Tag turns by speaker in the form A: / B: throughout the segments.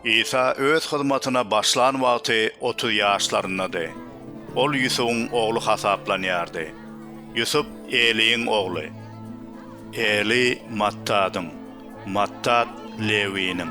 A: Isa öz hyzmatyna başlan wagty otuz ýaşlaryndady. Ol Ýusubyň ogly hasaplanýardy. Ýusup Eliýiň ogly. Eliý Mattadyň, Mattat Lewiniň,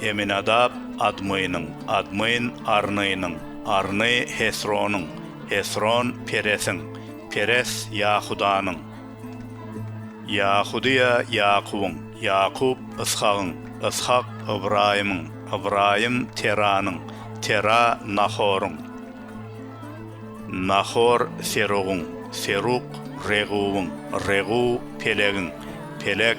A: Eminadap, Admynyň, Admyn, Arnynyň, Arny, Hesronyň, Hesron, Peresiň, Peres, Ýahudanyň, Ýahudyýa, Ýakubyň, Ýakup, Yshagyň, Yshak, Ybraýymyň, Ybraýym, Teranyň, Tera, Nahoryň, Nahor, Serugyň, Seruk, Reguwyň, Reguw, Pelegiň, Peleg,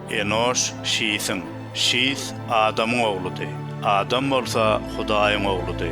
A: Enoş Şisiň, Şis Adamyň ogludy, Adam bolsa Hudaýyň ogludy.